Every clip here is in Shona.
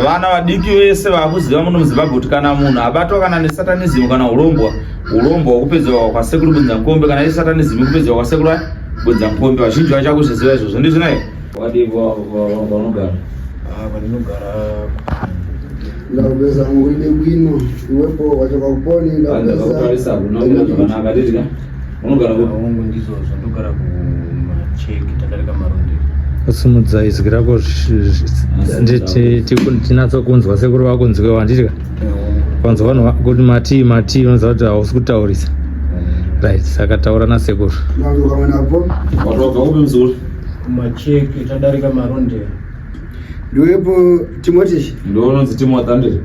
vana vadiki vese vakuziva muno muzimbabwe kuti kana munhu abatwa kana nesatanism kana ulombwa ulombwa hwakupedzerwa kwasekuru bunza nkombe kana isatanism ikupedzerwa kwasekuru bunza nkombe vazhinji vacho vakuzviziva izvozvo ndizvo naye vanogara vanogara ndakupeza nguine kwino iwepo wachoka kuponi ndakupeza Unogara kupi? Hongu ndizvozvo ndogara kumacheki tadarika maronde. Usimudza izwi rako tinatso kunzwa sekuru vako nzwe wanditi ka kwanzwa vanhu kuti matii matii vanoziva kuti hausi kutaurisa right saka taura nasekuru macheke tadarika maronde ndiwepo timoti ndoononzi timoti andiri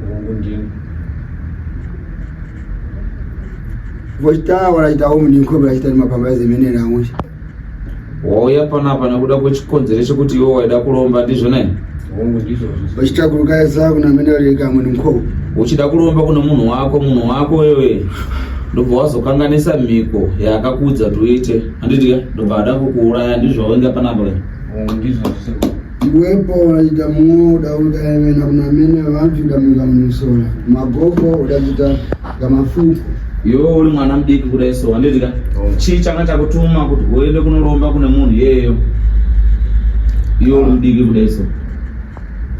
vochitawa vachitawo muninko vachita mapamba ezemene nawo wauya panapa nekuda kwechikonzero chekuti iwe waida kuromba ndizvo nai vachita kurukaisa kuna mene vareka muninko uchida kuromba kuna munhu wako munhu wako wewe ndobva wazokanganisa mhiko yaakakuudza kuti uite handidya ndobva ada kukuuraya ndizvo wainga panapa ndizvo Wepo unachita muo udaudayevena kunamene vantu damika munisora magogo udachita kamafuku iwewe uri mwana mudiki kudai so handiti ka oh. chii changa chakutuma kuti uende kunoromba kune munhu iyeyo iwe uri mudiki kudai so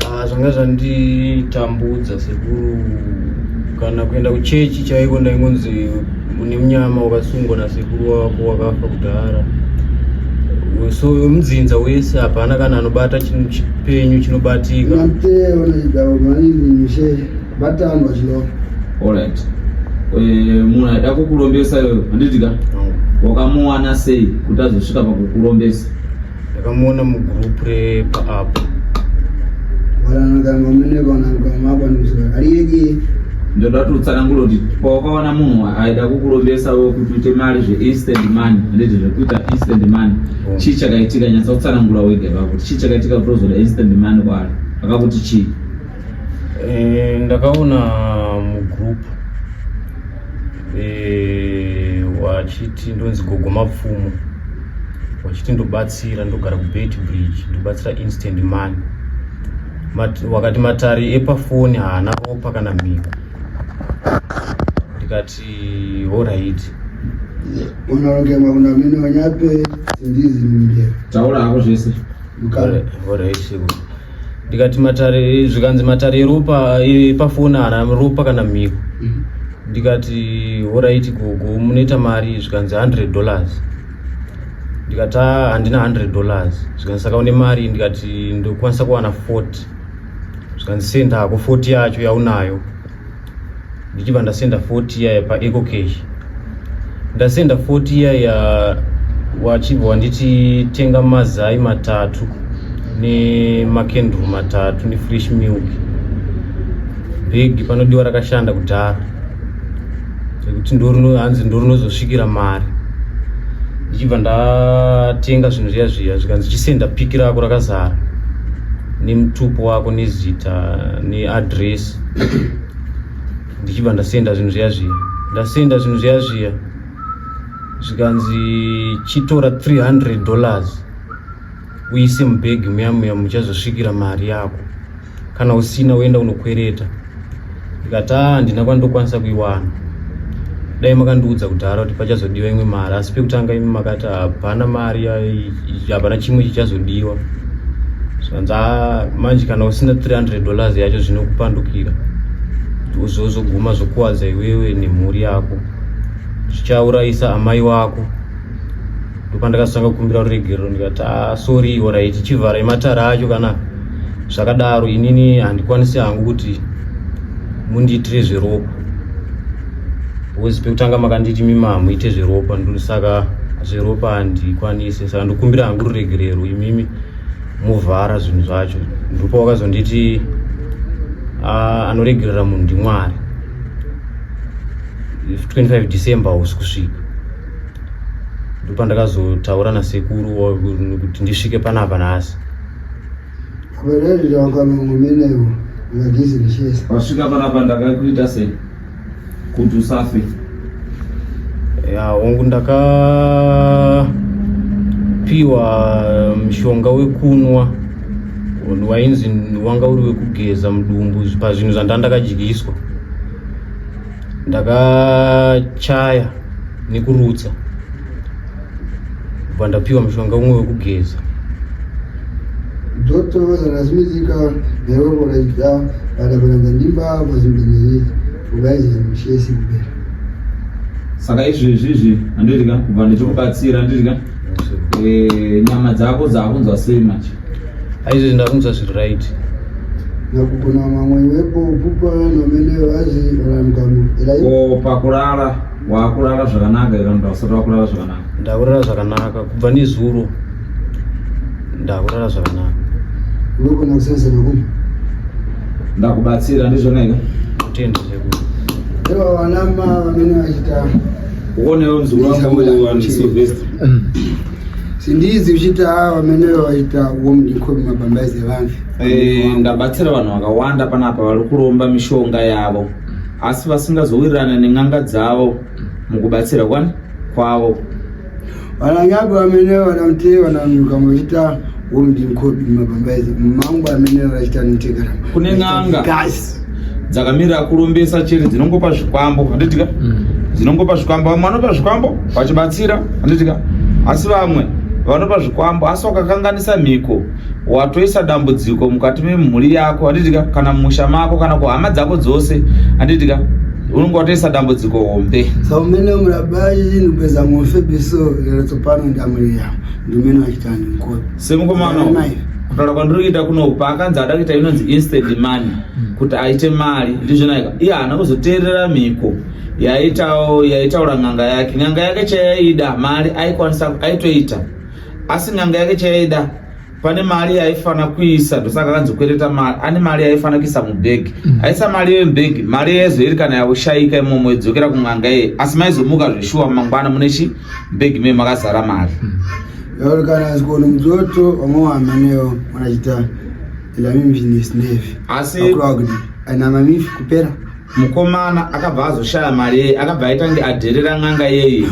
ah, zvanga zvanditambudza sekuru kana kuenda kuchechi chaiko ndaingonzi une munyama wakasungwa nasekuru wako wakafa kudhara so mudzinza wese hapana kana anobata chinhu chipenyu chinobatika alright eh, munhu aida kukurombesa iyoyo handitika wakamuwana sei kuti azosvika pakukurombesa ndakamuona mugroup repaapo ndoda kuti utsanangure kuti pawakaona munhu aida kukurombesa wo kuti uite mari zveinstant money handiti zvekuita instant money mm. chii chakaitika nyatsa kutsanangura wega ipapo kuti chii chakaitika kuti ozoda instant money kwaari akakuti chii eh, ndakaona mugroup eh, wachiti ndonzi gogo mapfumo wachiti ndobatsira ndogara kubet bridge ndobatsira instant money Mat, wakati matari epafoni haana ropa kana mhiko ndikati horaiti unorongema kuna mine wanyape sindizi mumbe taura hako zvese horaiti ndikati matare zvikanzi matare eropa epafoni ana ropa kana mhiko mm. ndikati horaiti gogo munoita mari zvikanzi 100 dollars ndikati ah, handina 100 dollars zvikanzi saka une mari ndikati ndokwanisa kuwana 40 zvikanzi sendako 40 yacho yaunayo ndichibva ndasenda 40 yaya paeco cash ndasenda 40 yaya wachibva wanditi tenga mazai matatu nemakendru matatu nefresh milk bhegi panodiwa rakashanda kudhara rekuti hanzi ndorinozosvikira mari ndichibva ndatenga zvinhu zviya zviya zvikanzi chisenda piki rako rakazara nemutupo wako nezita neadresi ndichibva ndasenda zvinhu zviya zviya ndasenda zvinhu zviya zviya zvikanzi chitora 300 dollars uise mubhegi muya muya muchazosvikira mari yako kana usina uenda unokwereta ndikati a ah, ndina kwandokwanisa kuiwana dai makandiudza kudhara kuti pachazodiwa imwe mari asi pekutanga imi makati hapana mari yai hapana chimwe chichazodiwa zvanza manje kana usina 300 dollars yacho zvinokupandukira zvozoguma zvokuwadza iwewe nemhuri yako zvichaurayisa amai wako ndopandakasanga kukumbira ruregerero ndikati ah, sori orit chivharai matara acho kana zvakadaro inini handikwanisi hangu kuti mundiitire zveropa Because pekutanga makanditi mima hamuite zveropa ndosaka zveropa handikwanise saka ndokumbira hangu ruregerero imimi movhara zvinhu zvacho ndipo wakazonditi ah, anoregerera munhu ndimwari 25 december hausi kusvika ndopandakazotaura nasekuru kuti ndisvike panapa nhasi vasvika panapa ndakakuita sei kuti usafe ya hongu ndakapiwa mushonga wekunwa wainzi wanga uri wekugeza mudumbu pazvinhu zvandandakadyiswa ndakachaya nekurutsa bva ndapiwa mushonga umwe wekugeza Doctor was an asthmatica, never would I down, but when the Nimba was in the need, Ugais and Shesi Bell. saka izvi izvizvi handiti ka kubva ndichikubatsira handiti ka Yes, sir. Eh, nyama dzako dzakunzwa sei manje Aizvi ndakunzwa zviri right. Nakupona mamwe wepo pupa nomeleyo azi rangamu. Ko pakurara wakurara zvakanaka ira mnda usati wakurara zvakanaka. Ndakurara zvakanaka kubva nezuro. Ndakurara zvakanaka. Wepo nakusenzera kupi? Ndakubatsira ndizvona ika. Kutenda sekuru. Ewa wanama vamene vachita. Uonewo mzukuru wangu wa Silvester. sindizi uchiti haa vamene vaita womdiko mumabambaizi evanhu eh, ndabatsira vanhu vakawanda panapa vari kuromba mishonga yavo asi vasingazowirirana nen'anga dzavo mukubatsira kwani kwavo vananyapi vamene vanamutee vananyuka muchita womdinkobi mabambaizi mangu amene vachitanotekera kune n'anga dzakamirira kurombesa chete dzinongopa zvikwambo handitika mm. dzinongopa zvikwambo vamwe vanopa zvikwambo vachibatsira handitika asi vamwe vanopa zvikwambo asi wakakanganisa mhiko watoisa dambudziko mukati memhuri yako handitika kana mumusha mako kana kuhama dzako dzose handitika unenge watoisa dambudziko hombe saumene murabai inupeza mofe biso yero tsopano ndamuri yavo Ndimene vachitani mkoti. Semukomana kutaura kwandiri kuita kuno paakanzi ada kuita inonzi instant money hmm. kuti aite mari ndizvonaika iye haana kuzoteerera mhiko yaitawo yaitaura n'anga yake n'anga yake chayaida mari aikwanisa aitoita asi n'anga yake chayaida pane mari yaifana kuisa ndosaka akanzi kwereta mari ane mari yaifana kuisa mubhegi hmm. aisa mari iyoyo mubhegi mari yaizoiri kana yaushayika imomo idzokera kun'anga iye asi maizomuka zveshuwa mangwana mune chii big me makazara mari yauri kana asikuona mudzoto vamwe wahamanewo wanachita ilamimbinesnevi asi akurakuti aina mamifi kupera mukomana akabva azoshaya mari yeye akabva aita nge adherera n'anga yeye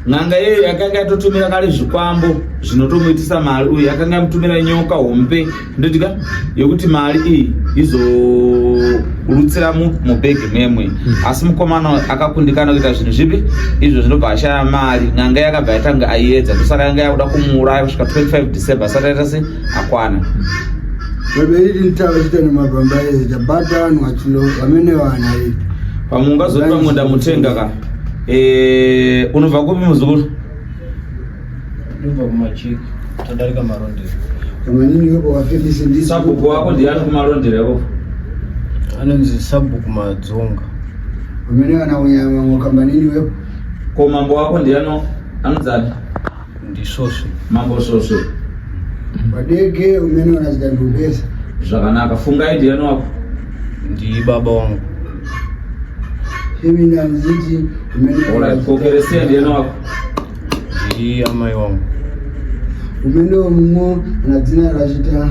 n'anga yeye yakanga yatotumira kale zvikwambo zvinotomuitisa mari uye yakanga yamutumira nyoka hombe ndodya yekuti mari iyi izolutsira mubhegi memwe hmm. asi mukomana akakundikana kuita zvinhu zvipi izvo zvinobva ashaya mari n'anga yakabva yatanga aiedza ndosaka yanga yakuda kumuuraya kusvika 25 december asati aita se akwana vaberiri nditava chita nemagwamba ese tabata vanhu vachilo vamene vana ii pamwe ungazoti pamwe ndamutenga ka eh, unobva kupi muzukuru Ndobva kumachiki tadarika marondero. Kamanini yoko wafilisi ndisi. Sabhuku wako ndiye ari kumarondero yako. Anonzi sabhuku madzonga. Umene kana unyama ngokambanini wepo. Ko mambo wako ndiye ano anodzani. Ndisoswe. Mambo soswe. Wadege umene kana zita ndubesa. Zvakanaka fungai ndiye ano wako. Ndi baba wangu. Himi ndanziti umene. Alright, kokereseni ndiye ano wako. Zviri amai wangu. Umene omumo anadzina rachita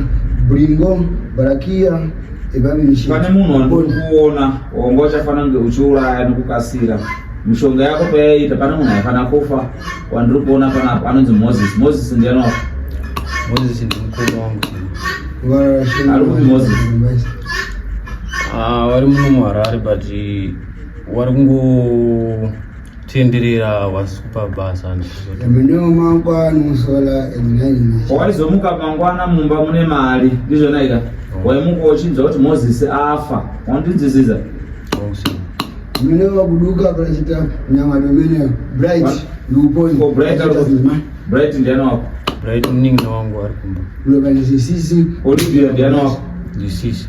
bringo barakia ebabishi. Pane munhu wandikuona wongo uchafana nge uchiuraya nekukasira. Mishonga yako payaita pane munhu aifana kufa wandiri kuona panapo anonzi Moses. Moses ndiye anofa. Moses ndi mukuru wangu. Ari kuti Moses. Ah, vari muno muHarare but vari kungo Tindirira was kupa basa ndizvozotiminewo mangwana musola emunanyina waizomuka mangwana mumba mune mari ndizvona ika oh. waimuka uchinzwa kuti moses afa wandinzisiza oh, mine vakuduka prachita nyama domene bright ndiuponi oh, bright bright ndiana wako bright muningi na wangu ari kumba ulokanizisisi olivia ndiana wako ndisisi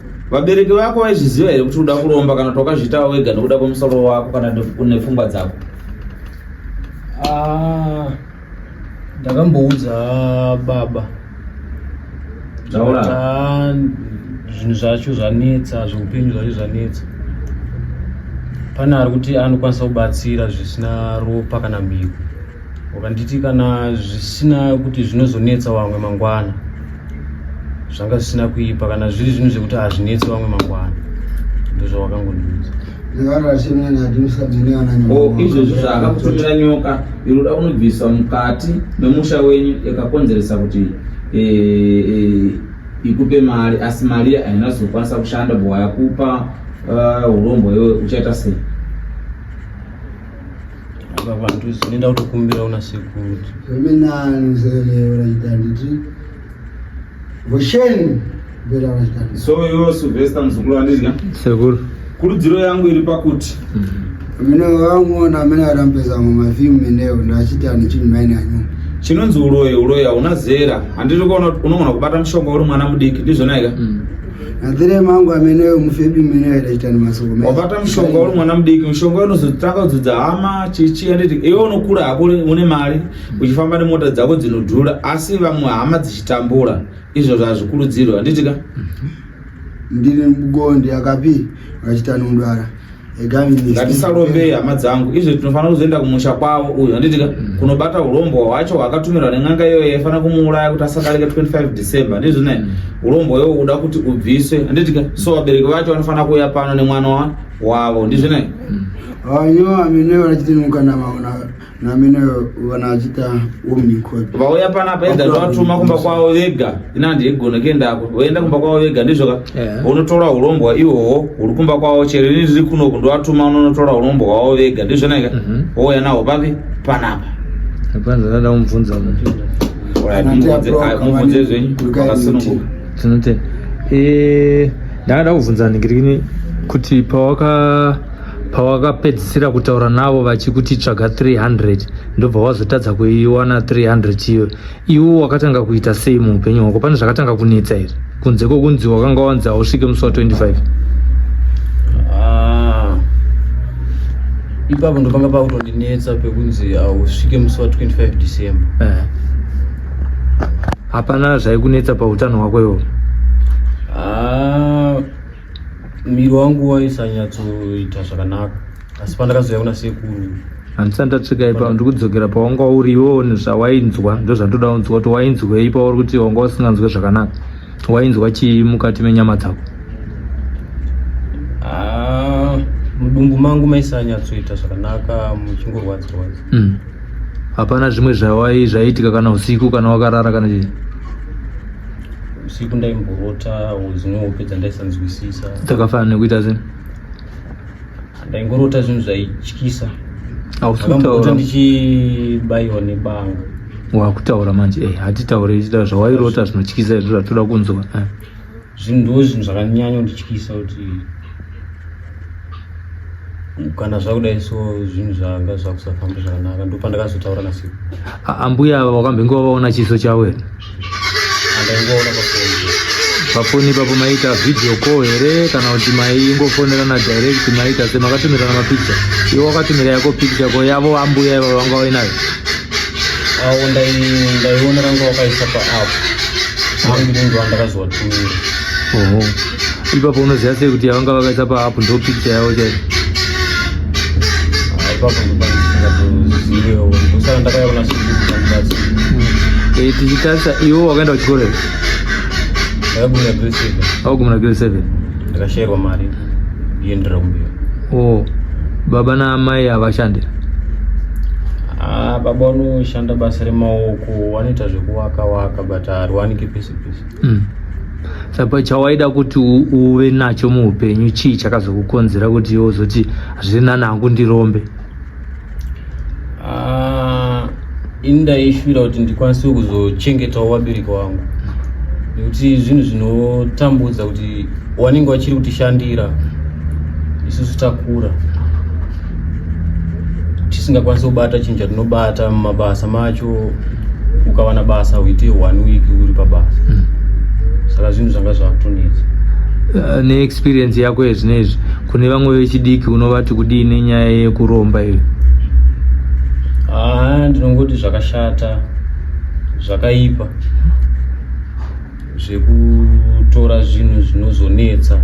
Vabereki vako vaizviziva here kuti uda kuromba kana kuti wakazviitawo wega nekuda kwemusoro wako kana nepfungwa dzako? Ah, ndakamboudza baba ah, zvinhu zvacho zvanetsa zveupenyu zvacho zvanetsa pane ari kuti anokwanisa kubatsira zvisina ropa kana mhiko Wakanditi kana zvisina kuti zvinozonetsa vamwe mangwana zvanga zvisina kuipa kana zviri zvinhu zvekuti hazvinetsi vamwe mangwana ndozvawakangondiudza oh, izvozvi zvaakakutorera nyoka iroda kunobviswa mukati memusha wenyu yakakonzeresa kuti eh, eh, ikupe mari asi mari haina zokwanisa kushanda bhowa yakupa eh, urombo iwe uchaita sei vantu zvinoenda kutokumbira una sekuru imi nani mzeleyo rachita nditi vosheni mbera rachita so iwe sylvester mzukuru andidya sekuru kurudziro yangu iri pakuti mm-hmm. mine vanguona amene arambeza mu mafimu meneo ndachiti ani chinhu maine anyu chinonzi uroyi uroyi hauna zera handiri kuona unogona kubata mushonga uri mwana mudiki ndizvonaika mm. Adhire mangu amene yo mufebi mene yo ita ni masoko mene. Wabata mshonga uri mwana mdiki mshonga yo nozotaka kudzudza hama chichi and it iyo unokura hako une mari uchifamba ne mota dzako dzinodhura asi vamwe hama dzichitambura izvo zvazvikurudzirwa anditika. Ndiri mgonde akapi vachita nundwara. ngatisarombei hama dzangu izvo tinofanira kuzoenda kumusha kwavo uyu handitika mm. kunobata urombwa hwacho hwaakatumirwa nen'anga iyoyo yaifanira kumuuraya kuti asadarika 25 december ndizvo ne mm. urombwa iwo uda kuti ubviswe handitika so vabereki vacho vanofanira kuuya pano nemwana wavo ndizvo ne mm. ayo amene vanachitinuka namaona vauya panapa ega zvavatuma kumba kwavo vega ina ndigona kuendako voenda kumba kwavo vega ndizvoka unotora eh. urombwa ihoho huri kumba kwavo chero ini ndiri kunoku ndovatuma unonotora urombwa hwavo vega ndizvonaika mhm. wouya naho papi panapa apanzanada kumubvunza mubvunze zvenyu akasununguka tinotenda eh, ndakada kubvunza ningirikini kuti pawaka pawakapedzisira kutaura navo vachikuti tsvaga 300 ndobva wazotadza kuiwana 300 iyo iwo wakatanga kuita sei muupenyu hwako pane zvakatanga kunetsa here kunze kwokunzi wakanga wanzi hausvike musi wa 25 ah, ipapo ndopanga pakutondinetsa pekunzi hausvike musi wa 25 december eh. hapana zvaikunetsa pautano hwako iwo ah, miri wangu waisanyatsoita zvakanaka asi pandakazouya kuna sekuru handisati ndatsvika ipa ndiri kudzokera pawanga uri iwewo nezvawainzwa ndozvandoda unzwa kuti wainzwei pauri kuti wanga usinganzwe zvakanaka wainzwa chii mukati menyama dzako ah, mudumbu mangu maisanyatsoita zvakanaka muchingorwadzirwadza hmm. hapana zvimwe zvawai zvaiitika kana usiku kana wakarara kana chii usiku ndaimborota dzimwe hope dzandaisanzwisisa dzakafanana nekuita zvinhu ndaingorota zvinhu zvaityisa ausiutaura ndichibaiwa nebanga wakutaura manje e eh, hatitaure ichita zvawairota zvinotyisa izvo zvatoda kunzwa eh. zvinhu ndo zvinhu zvakanyanya kundityisa kuti kana zvakudai so zvinhu zvanga zvakusafamba zvakanaka ndo pandakazotaura nasi ambuya ava wakambenge wavaona chiso chavo here andaingoona pafoni pafoni ipapo maiita video call here kana kuti maingofonerana direct maiita se makatumirana mapikicha iwe wakatumira yako pikicha ko yavo ambuya ivavo vanga vainayo awo ndaiona ranga wakaisa paapo angu ndindoandakazovatumira oho ipapo unoziva sei kuti yavanga vakaisa paapu ndo picture yavo chai eh, tichitarisa iwo wakaenda kuchikoro here augumira grade seven ndakashairwa mari yendira kumbiwa o baba naamai havashande ah, baba vanoshanda basa remaoko vanoita zvekuwaka waka but hariwanike pese pese mm. saka chawaida kuti uve nacho muupenyu chii chakazokukonzera kuti iwe uzoti hazvina nangu ndirombe ah, ini ndaishuvira kuti ndikwanise kuzochengetawo vabereki vangu nekuti zvinhu zvinotambudza kuti wanenge wachiri kutishandira isusu takura tisingakwanisi kubata chinhu chatinobata mumabasa macho ukawana basa uite one week uri pabasa mm. saka zvinhu zvanga zvakutonetsa uh, neexperience yako yezvinezvi kune vamwe vechidiki unovati kudii nenyaya yekuromba iyo haa ah, ndinongoti zvakashata zvakaipa zvekutora zvinhu zvinozonetsa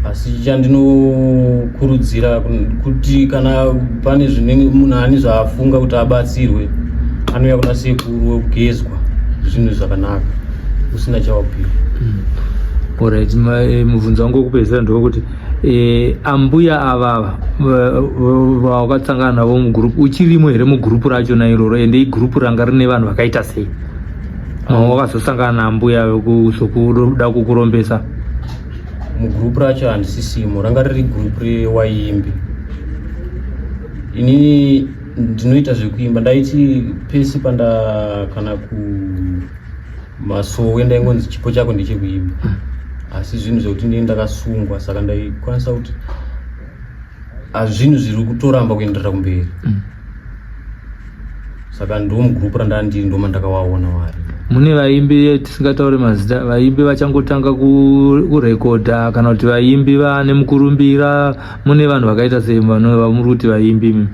asi chandinokurudzira kuti kana pane zvinenge munhu ani zvaafunga kuti abatsirwe anouya kuna sekuru wekugezwa zvinhu zvakanaka usina chawabvira mm. orit eh, mubvunzo wangu wekupedzisira ndokuti eh, ambuya avava vawakatsangana navo mugrupu uchirimo here mugrupu racho na iroro ende igrupu ranga rine vanhu vakaita sei wakazosangana nambuya vekuda kukurombesa mugroup racho handisisimo ranga riri group rewaimbi inini ndinoita zvekuimba ndaiti pese panda kana ku masowe ndaingonzi chipo chako ndechekuimba asi zvinhu zvekuti ndini ndakasungwa saka ndaikwanisa kuti hazvinhu zviri kutoramba kuenderera kumberi mm. saka ndiwo mugroup randandiri ndoma ndakawaona wari mune vaimbi tisingataure mazita vaimbi vachangotanga kurekodha kana kuti vaimbi vane mukurumbira mune vanhu vakaita sei vanova vamuri kuti vaimbi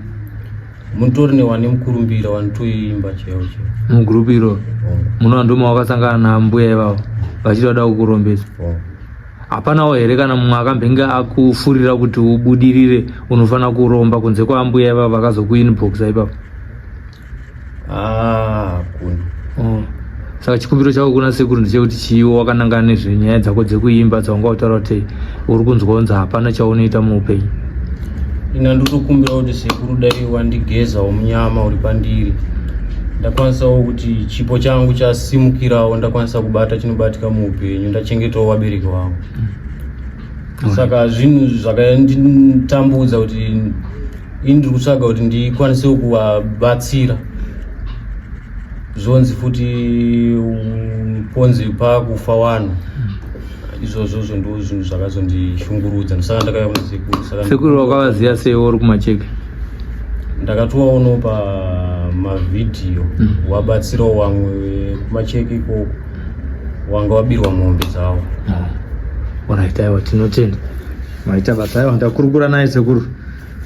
mutori newane mukurumbira wanotoimba chaiwo chaiwo mugroup iro oh. munova ndoma wakasangana nambuya ivavo vachiti vada kukurombesa oh. hapanawo here kana mumwe akambenge akufurira kuti ubudirire unofanira kuromba kunze kwaambuya ivavo vakazokuinboxa ipapo ah, oh. saka chikumbiro chako kuna sekuru ndechekuti chiiwo wakanangana nezvenyaya dzako dzekuimba dzawanga utaura kuti uri kunzwa kunzi hapana chaunoita muupenyu ina ndotokumbira kuti sekuru dai wandigezawo munyama uri pandiri ndakwanisawo kuti chipo changu chasimukirawo ndakwanisa kubata chinobatika muupenyu ndachengetawo vabereki vangu mm. saka zvinhu zvakanditambudza kuti ini ndiri kutsvaga kuti ndikwanisewo kuvabatsira zvonzi futi ponzi pakufa wanhu mm. izvozvo zvo ndo zvinhu zvakazondishungurudza ndosaka ndakauya kuna sekuru saka sekuru wakavaziva sei uri kumacheke ndakatovaonawo pamavhidhiyo mm. wabatsirawo wamwe kumacheke ikoko wanga wabirwa mombe dzavo ah. orit aiwa tinotenda maita basa aiwa ndakurukura naye sekuru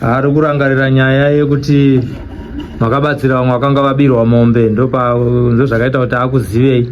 ari kurangarira nyaya yekuti makabatsira vamwe vakanga vabirwa mombe ndozvakaita kuti akuzivei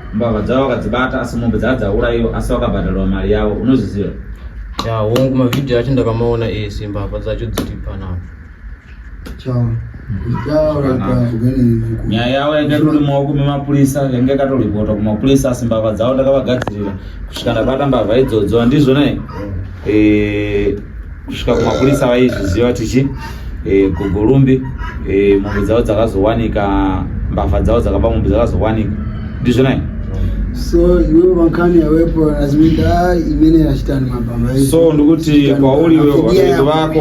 mbavha dzavo vakadzibata asi mombe dzaa dzauraiwa asi vakabhadharwa mari yavo unozviziva ya hongu mavhidhiyo acho ndakamaona ese mbavha dzacho dziri panapa nyaya yavo yanga itori maoko memapurisa yanga yakatoripota kumapurisa asi mbavha dzavo ndakavagadzirira kusvika ndabata mbavha idzodzo handizvo nai eh, kusvika kumapurisa vaizviziva tichi eh, gogorumbi eh, mombe dzavo dzakazowanika mbavha dzavo dzakaba mombe dzakazowanika ndizvo nai so iwe vankani yawepo aziminda imene yachitani mabhama so ndikuti kwauri iwe vabereki vako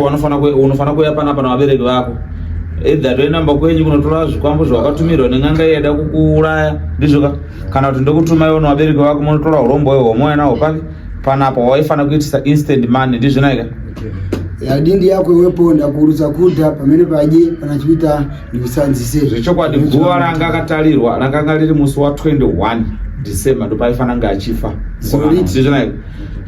unofanira kuya panapa navabereki vako edha toinamba kwenyu kunotora zvikwambo zvawakatumirwa nen'anga yaida kukuuraya ndizvoka kana kuti ndokutuma iwo nevabereki vako munotora urombo hwemwoya nawo papi panapa waifanira kuitisa instant money ndizvinaika yadindi yako iwepo ndakuurudza kuda pamene padye kana chikuita ndikusanzise zvechokwadi guva ranga akatarirwa rakanga riri musi wa 21 december ndopaifanira nga achifa ndizvinaika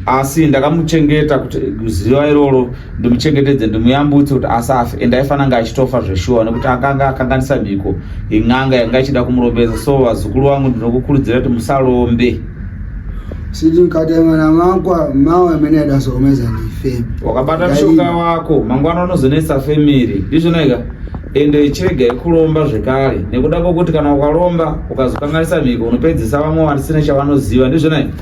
asi ndakamuchengeta kuti ziva iroro ndimuchengetedze ndimuyambutse kuti asafe and aifana nga achitofa zveshuwa nekuti akanga akanganisa mhiko in'anga yanga ichida kumurombesa so vazukuru vangu ndinokukurudzira kuti musalombe siti mkatengana makwa mawa amene adasokomeza ndi fame wakabata mshoka wako mangwana unozonetsa family ndizvona ika ende chirega yekulomba zvekare nekuda kwokuti kana ukalomba ukazokanganisa mhiko unopedzisa vamwe vasina chavanoziva ndizvona ika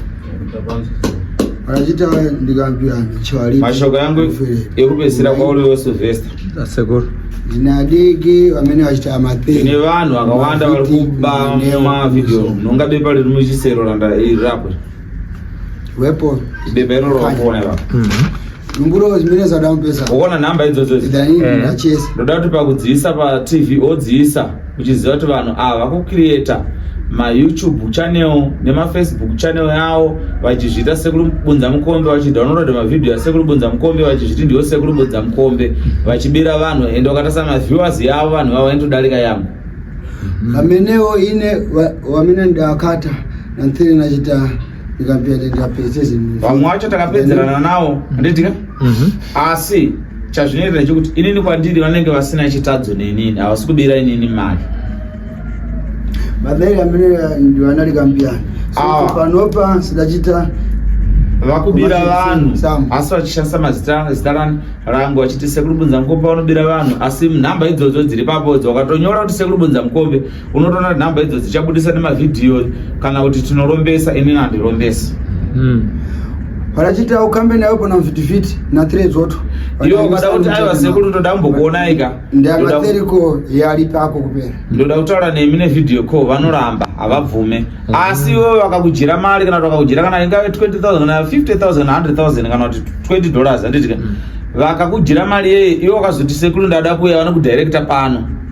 achita ndikambirana chawari mashoko yangu ekupedzisira kwauri wesilvester Sekuru. Jina diki vamene vachita mathe. Ine vanhu vakawanda vari kuba ma video. Nonga bepa riri muchisero randa iri rapo. Wepo. Bepa iro rokona ipapo. Mhm. Numburo zimene zadamu pesa. Uona namba idzodzo. Idani ndachesa. Eh. Ndoda kuti pakudziisa pa TV odziisa. uchiziva kuti vanhu ava vakucreata mayoutube channel nemafacebook channel yawo vachizviita sekuri bunza mukombe vachidownloada mavhidhiyo asekuri bunza mukombe vachizviti ndiwo sekuri bunza mukombe vachibira vanhu ende wakatasa maviewers yavo vanhu vavo vaitodarika yambo vamenewo ine vamene ndakata nanthiri nachita vamwe wacho takapedzerana nawo anditika mhm. asi chazvinoitira chekuti inini kwandiri vanenge vasina chitadzo nenini havasi kubira inini mari mabere amene ndivanali kambiyana ah. panopa sidachita vakubira vanhu asi vachishandisa mazita zita rani rangu vachiti sekuru bunza mukombe vanobira vanhu asi nhamba idzodzo dziri papo dzo wakatonyora kuti sekuru bunza mukombe unotoona kuti nhamba idzo dzichabudisa nemavhidhiyo kana kuti tinorombesa inini handirombesi hmm. vachiti aukambe nayo pana mvhitivhiti nathre dzoto iyo ukada kuti aiwa sekuru ndoda kumbokuonai ka ndiamatheriko yari pako kupera ndoda kutaura nemi nevhidhiyo ko vanoramba havabvume hmm. asi iwe vakakujira mari kana kuti vakakujira kana ingave 20 000 kana 50 000 100 000 kana kuti 20 dollars handiti ka hmm. vakakujira mari yeye iwe wakazoti sekuru ndada kuya vanokudirecta pano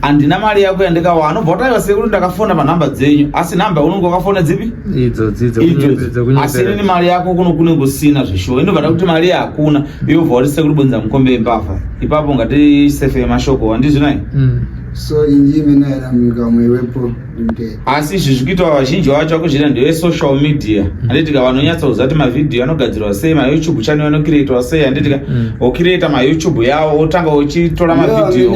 handina mari yako yandikawa anobva wataura sekuru ndakafona panhamba dzenyu asi nhamba unenge wakafona dzipi asi inini mari yako kuno kunenge usina zveshuwa inobva ta kuti mari hakuna yobva wati sekuru bonza mukombe yembavha ipapo ungati sefe yemashoko handizvinai mm. so inji imene aramika mwewepo asi izvi zviri kuitwa vazhinji vacho vakuzviita ndeve social media mm. handitika vanonyatsa kuziva kuti mavhidhiyo anogadzirwa sei mayoutube channel anokireitwa sei handitika mm. okireita mayoutube yavo otanga uchitora mavhidhiyo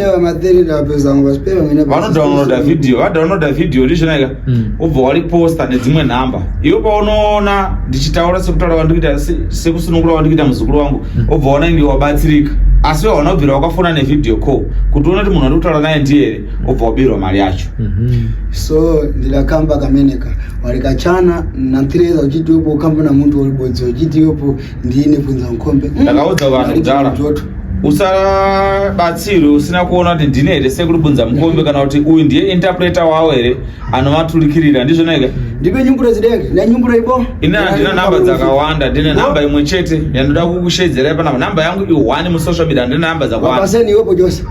vanodownloada vhidhiyo vadownloada vhidhiyo ndizvonaika mm. ubva wariposta nedzimwe nhamba iwe paunoona ndichitaura sekutaura wandikuita sekusunungura wandikuita muzukuru wangu obva waona inge wabatsirika asi wehauna kubvira wakafona nevhidhiyo call kuti uona kuti munhu wandikutaura naye ndiye here obva wabirwa mari yacho mhm. so ndidakamba kameneka warikachana natireza uchiti wepo ukamba namuntu waribodzo uchiti wepo ndiine kunza mukombe mm. ndakaudza vanhu kudhara usabatsirwe usina kuona kuti ndine here sekuri bunza mukombe kana kuti uyu ndiye interpreter wawo here anovaturikirira ndizvona ika ndipe nyumburo dzidenge nenyumburo ibo ini handina namba dzakawanda ndine namba imwe chete yandoda kukushedzera panapa namba yangu i1 musocial media handina namba dzakawandapaseni iwepo jose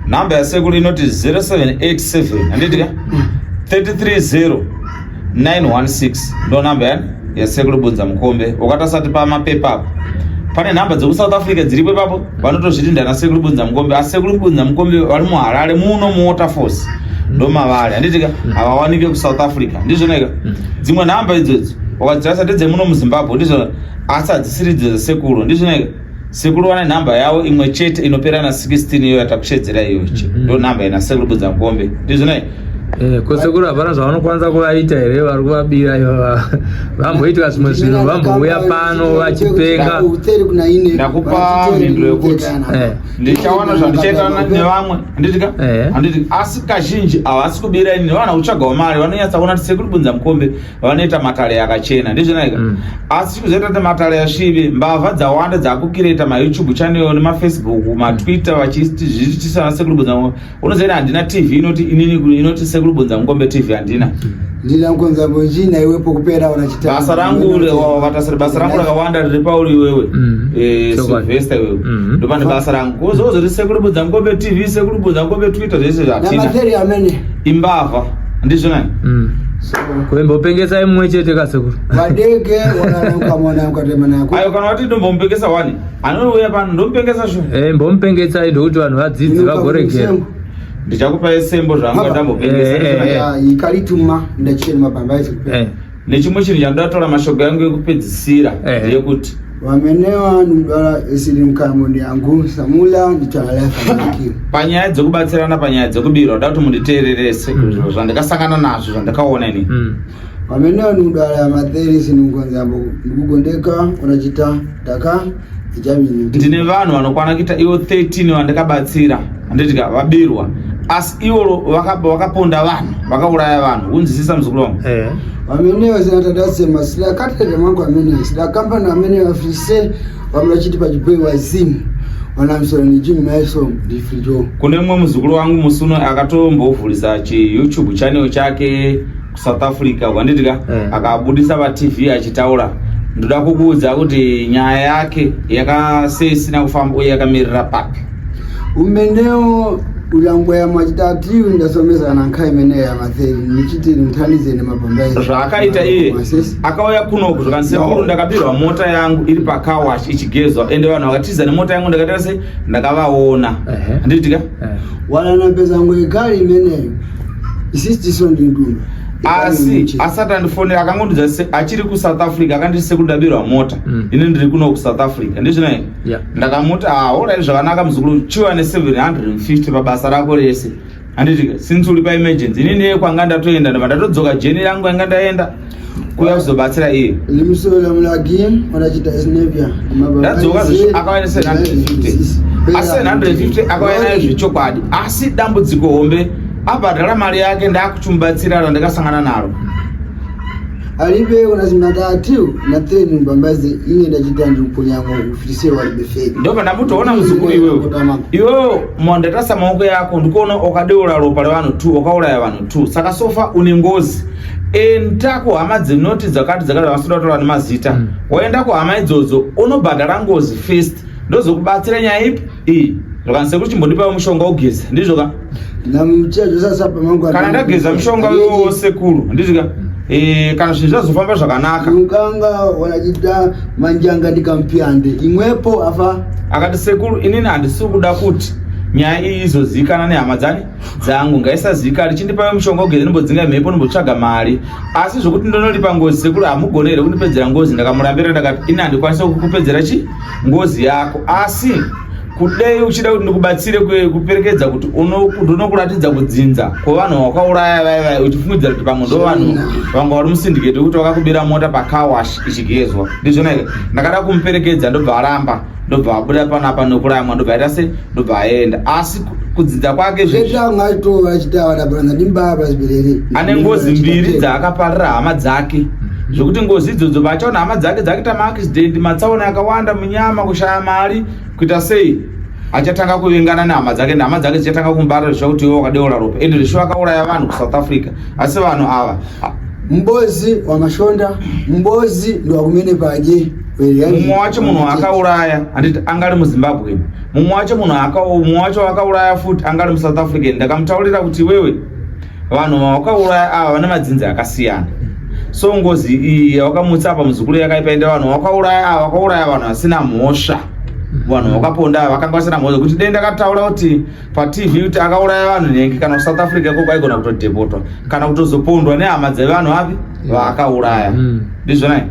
namba yasekuru inoti 0787 handitika 330 916 ndo namba yani yasekuru bunza mukombe ukatasati pamapepa apo pane nhamba dzekusouth africa dziripo ipapo vanotozviti ndana sekuru bunza mukombe asi sekuru bunza mukombe vari muharare muno muwaterforce ndomavari handitika mm. havawanike kusouth africa ndizvonaika mm. dzimwe nhamba idzodzo wakadzitarisa ndedzemuno muzimbabwe ndizvo asi hadzisiri idzo dzasekuru ndizvonaika sekuru vane nhamba yavo imwe chete inopera na 16 iyo yatakushedzera iyoche mm-hmm. ndo nhamba ina sekuru bunza mukombe ndizvonaika Eh, kosekuru hapana zvavanokwanisa kuvaita here vari kuvabira ivava vamboitwa zvimwe zvinhu vambouya pano vachipenga ndakupa mhinduro yekuti eh. ndichaona zvandichaita nevamwe handitika eh. handiti asi kazhinji havasi kubira ini nevana kutsvagawo mari vanonyatsa kuona kuti sekuru bunza mukombe vanoita matare akachena ndizvinaika mm. asi chikuzoita kuti matare asvibe mbavha dzawanda dzakukireta mayoutube channel nemafacebook matwitter vachiti zvichitisana sekuru bunza mukombe unozoita handina tv inoti inini inoti sekuru bunza mukombe tv handina ndina mukonza mujina iwe pokupera ona chita basa rangu vatasira basa rangu rakawanda riri pauri iwewe mm. eh, silvester iwewe mm. ndopane basa rangu kozozoti sekuru bunza mukombe tv sekuru bunza mukombe twitter zvese zvatina imbavha ndizvo nani mm. kuimbopengesa imwe chete kasekuru vadeke wanaukamwana ukatemana ayo kana wati ndombomupengesa wani anouya pano ndomupengesa shu eh, mbomupengesai ndokuti vanhu vadzidzi vagoregera ndichakupa esembo zvanga ndambopengesaikarituma eh, eh, ndachena mabamba nechimwe chinhu chandatora mashoko yangu yekupedzisira ndeyekuti vamene vanhu mdwara esiri mukamoni yangu samula nditanalafanakiwa panyaya dzekubatsirana panyaya dzekubirwa nda kuti munditeererese mm. zvandakasangana nazvo zvandakaona ini mm. pamene vanhu mudala ya matheri siningonzambo ndikugondeka unachita taka ndine vanhu vanokwana kuita ivo 13 vandakabatsira handitika vabirwa asi ivo vakaponda vanhu vakauraya vanhu kunzwisisa muzukuru wangu eh. vamene vasinatadasema sida katete mangu amene sida kambani amene vafise vamwe vachiti pachiboi wazimu kune mumwe muzukuru wangu musuno akatombovhurisa chiyoutube channel chake kusouth africa kwandidya eh. akabudisa patv achitaura ndoda kukuudza kuti nyaya yake yakaseisina kufamba uye yakamirira papi umenewo ulango ya machitatu ndasomesa na nkhai imene ya matheri nichiti nithandize nemabhambairi zvaakaita iye akauya kunoku zvakandisekuru ndakapirwa mota yangu iri pacarwash ichigezwa ende vanhu vakatiza nemota yangu ndakatira sei ndakavaona handiitika wanana pezangu yekari imeneyo asi asati andifonera akangondiudza se achiri kusouth africa akanditi sekundabirwa mota mm. ini ndiri kuno kusouth africa ndizvina here yeah. ndakamuti haorai ah, zvakanaka muzukuru chiwa ne750 pabasa rako rese handiti since uri paemergency ini ndeye kwanga ndatoenda ndava ndatodzoka jeni rangu yanga ndaenda kuya kuzobatsira iye limusolo mulagi wanachita esnevia ndadzoka akawana 750 asi 750 akawana nayo zvechokwadi asi dambudziko hombe abhadhara mari yake ndakuchimubatsira randakasangana naro alibe unazimatatu na tenu mbambazi ine ndachita ndikunyamo ufise walibe fake ndoba ndamutoona muzukuru iwewe iwewe mwandatasa maoko yako ndikuona ukadeura ropa revanhu two ukauraya vanhu two saka sofa une ngozi enda kuhama dzinoti dzakati dzakati vanotoda kutaura nemazita mm. waenda kuhama idzodzo unobhadhara ngozi first ndozokubatsira nyaya ipi iyi zvakanzi sekuru chimbondipawo mushonga ugeza ndizvo ka kana ndageza mushonga iwowo sekuru ndizvo ka Eh, kana zvinhu zvazofamba zvakanaka ukanga wanachiita manjanga ndikampiyande imwepo afa akati sekuru inini handisi kuda kuti nyaya iyi izoziikana nehama dzani dzangu ngaisazivikanwe chindipayo mushonga ugeze ndimbodzinga mhepo ndimbotsvaga mari asi zvokuti ndonoripa ngozi sekuru hamugone here kundipedzera ngozi ndakamurambira ndakati ini handikwanisa kukupedzera chi ngozi yako asi kudai uchida kuti ndikubatsire kuperekedza kuti ndonokuratidza kudzinza kwevanhu wakauraya vaiva uchifungidzira kuti pamwe ndo vanhu vanga vari musindiketi wekuti wakakubira mota pacawash ichigezwa ndizvona here ndakada kumuperekedza ndobva aramba ndobva abuda panapa nokuramwa ndobva aita se ndobva aenda asi kudzidza kwake zvezvanga aitova achitaura nabrana ndimbaba zibirere ane ngozi mbiri dzaakaparira hama dzake mhm. zvekuti ngozi idzodzo vachaona hama dzake dzakuita maaccident matsaona akawanda munyama kushaya mari kuita sei achatanga kuvengana nehama dzake nehama dzake dzichatanga kumbara zvisva kuti iwe wakadeora ropa ende zvisho vakauraya vanhu kusouth africa asi vanhu ava mbozi wamashonda mbozi ndiwakumene padye mumwe wacho munhu akauraya handiti anga ari muzimbabwe mumwe wacho munhu mumwe wacho akauraya futi anga ari musouth african ndakamutaurira kuti iwewe vanhu vawakauraya ava vane madzinzi akasiyana so ngozi iyi yawakamutsa apa muzukuru yakaipaenda vanhu vawakauraya ava vakauraya vanhu vasina mhosva vanhu vakaponda vakanga vasina mhosva kuti dai ndakataura kuti patv kuti akauraya vanhu nhengi kana kusouth africa ikoko aigona kutodhepotwa kana kutozopondwa nehama dzevanhu vapi vaakauraya mm. ndizvonai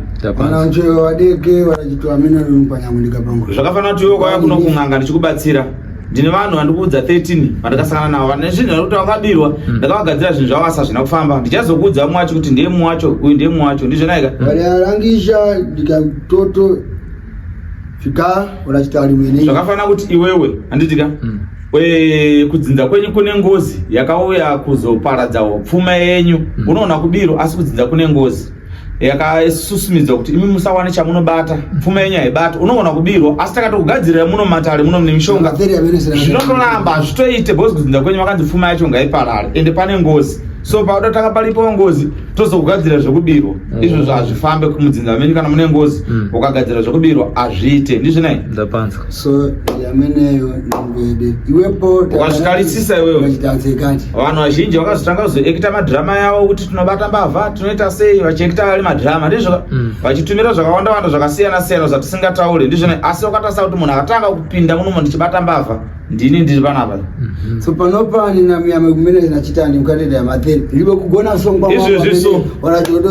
zvakafanira kuti iwe kwaya kuno kun'anga ndichikubatsira ndine vanhu vandikuudza 13 vandakasangana navo vane zvinhu zvakuti vakabirwa hmm. ndakavagadzira zvinhu zvavo asi hazvina kufamba ndichazokuudza mumwe wacho kuti ndiye mumwe wacho uyu ndiye mumwe wacho ndizvonaika variarangisha ndikatoto Fika unachita ali mwini. Zvakafana kuti iwewe anditika. Mm. We kudzinza kwenyu kune ngozi yakauya kuzoparadza pfuma yenyu. Mm. Unoona kubiro asi kudzinza kune ngozi yakasusumidza kuti imi musawane chamunobata pfuma yenyu haibata unoona kubirwa asi takatokugadzirira muno matare muno mune mishonga zvinondoramba hazvitoite bhozi kudzinza kwenyu vakanzi pfuma yacho ngaiparare ende pane ngozi so paoda takaparipo ngozi tozogadzira zvekubirwa mm. izvozvo hazvifambe kumudzinza menyu kana mune ngozi mm. ukagadzira zvekubirwa hazviite ndizvinai ndapanzwa so yameneyo nambede iwepo ukazvitarisisa iwewe vanhu vazhinji vakazotanga kuzoekita madhirama yavo kuti tinobata mbavha tinoita sei vachiekita ari madhirama ndizvo mm. vachitumira zvakawanda wanda zvakasiyana siyana zvatisingataure ndizvinai asi wakatarisa kuti munhu akatanga kupinda munomo ndichibata mbavha ndini ndiri panapa mhm. so panopani namuyame kumene nachitani mukatenda yamatheni ndive kugona songwaizvezvi so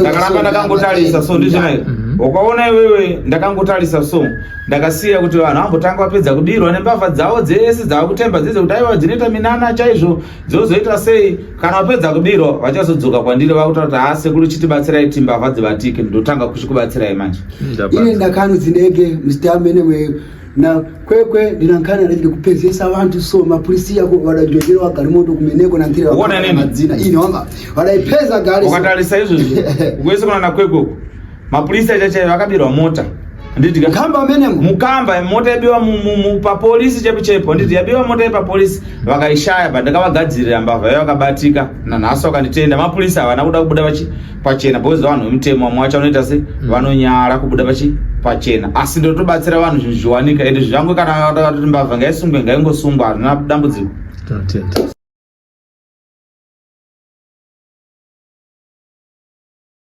ndakaramba ndakangotarisa so ndizvina mhm. wakaona iwewe ndakangotarisa so ndakasiya kuti vanhu vambotanga vapedza kudirwa nembavha dzavo dzese dzavakutemba dzese kuti aiwa dzinoita minana chaizvo dzozoita sei kana vapedza kudirwa vachazodzoka kwandiri vakutaura kuti haa sekuru chitibatsirai ti mbavha dzivatike ndotanga kuchikubatsirai manje ine ndakano dzinege muzita mene na kwekwe ndinankana ndiri kupezesa vantu so mapurisi yako vada njojero wagari moto kumeneko na ntire wakona nini madzina ini wamba vada ipeza gari ukatarisa izvo izvo ukwese kuna na kwekwe uko mapurisi achacha vakabirwa mota nditi kamba amene mukamba mota yabiwa mu, mu, mu pa police chepo chepo nditi yabiwa mota yepa police vakaishaya but ndakavagadzirira mbavha yao vakabatika na nhasi wakanditenda mapurisi havana kuda kubuda vachi pachena because vanhu vemutemo vamwe vacho vanoita se mm. vanonyara kubuda pachi pachena asi ndotobatsira vanhu zvinhu zviwanika ende zvirango kana vakatoti mbavha ngaisungwe ngaingosungwa harina dambudziko